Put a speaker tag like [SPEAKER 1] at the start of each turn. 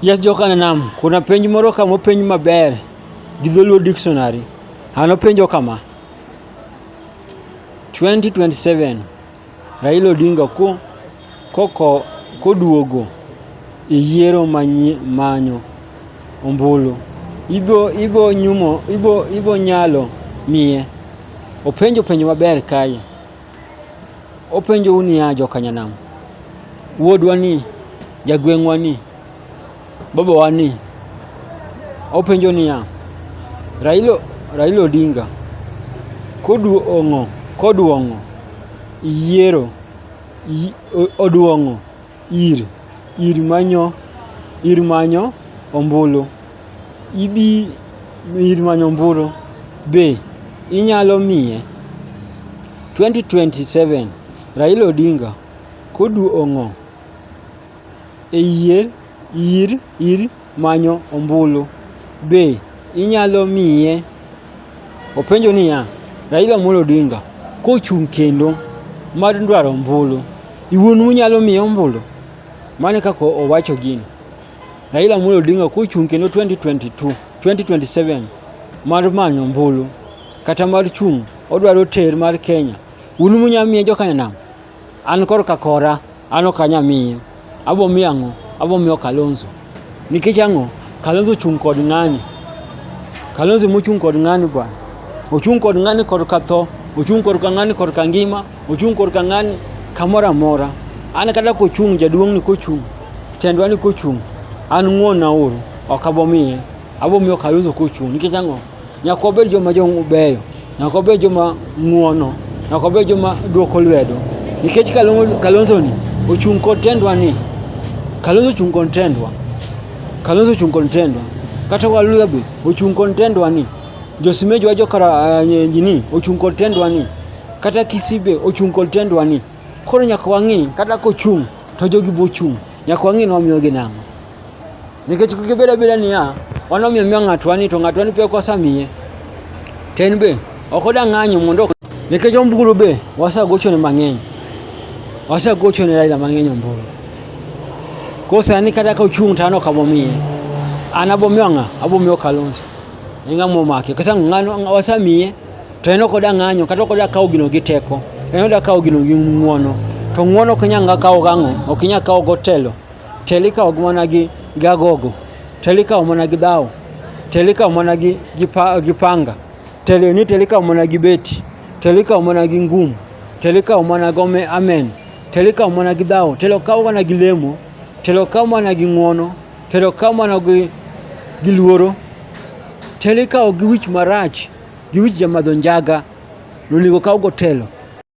[SPEAKER 1] Yes jokana nam, kuna penj moro ka mopenj maber gi dholuo dictionary. An openjo kama, 2027 Raila Odinga ko koko koduogo e yiero manyi manyo ombulu, ibo ibo nyumo ibo ibo nyalo miye. Openjo penjo maber kae. Openjou niya, jokanyanam, wuodwa ni, jagweng'wa ni, babawa ni, openjo niya, Raila, Raila Odinga koduong'o, koduong'o yiero, yi- o- oduong'o ir, ir manyo, ir manyo ombulu. Ibi ir manyo ombulu. Be inyalo miye? 2027 Raila Odinga koduong'o e yier, ir, ir. manyo ombulu be inyalo miye. Openjo niya, Raila Amolo Odinga kochung' kendo mar dwaro ombulu, iwuon unyalo miye ombulu? Mano kaka owacho gini. Raila Amolo Odinga kochung' kendo 2022, 2027 mar manyo ombulu kata mar chung' odwaro ter mar Kenya, un munyalo miye joka nam? An kor ka kora, an ok anya miye. Abo miye ang'o? Abo miyo Kalonzo. Nikech ang'o? Kalonzo chung' kod ng'ani. Kalonzo mochung' kod ng'ani bwana. Ochung' kod ng'ani kod ka tho. Ochung' kod ka ng'ani kod ka ngima. Ochung' kod ka ng'ani kamoro amora. An kata kochung' jaduong' ni kochung', tendwa ni kochung', an ng'won na uru. Ok abo miye. abo miyo Kalonzo kochung' nikech ang'o? Nyaka wabed joma jobeyo, nyaka wabed joma ng'uono, nyaka wabed joma dwoko lwedo nikech Kalonzo ni ochung' kod tendwa ni Kalonzo ochung' kod tendwa, Kalonzo ochung' kod tendwa kata Waluya be ochung' kod tendwa ni Josimeji wa jokara eh, ni ochung' kod tendwa ni kata Kisii be ochung' kod tendwa ni koro nyaka wang'i kata kochung' to jogi bochung' nyaka wang'i ni wamiyogi nang'o. Nikech gibedo abeda niya, wan omiyo miyo ng'atwa ni to ng'atwa ni pek wasamiye. To en be ok oda ng'anyo mondo nikech ombulu be wasagochone mang'eny. Wasagochone Raila mang'eny ombulu. Koro sani kata ka ochung' to an ok abomiye. An abomiyo ng'a? Abomiyo Kalonzo. En ng'ama omake. Kasa ng'ano wasamiye to en ok oda ng'anyo kata ok oda kawo gino gi teko. En oda kawo gino gi ng'uono. To ng'uono ok inyal kawo gang'o? Ok inyal kawo gotelo. Tel ikawo mana gi gi agogo, tel ikawo mana gi dhaw, tel ikawo mana gi gi pa, gi panga, tel ni tel ikawo mana gi beti, tel ikawo mana gi ngum, tel ikawo mana gi ome- amen, tel ikawo mana gi dhaw, tel okaw mana gi lemo, tel okaw mana gi ng'wono, tel okaw mana gi gi luoro, tel ikawo gi wich marach, gi wich jamadho njaga, nonego okaw gotelo.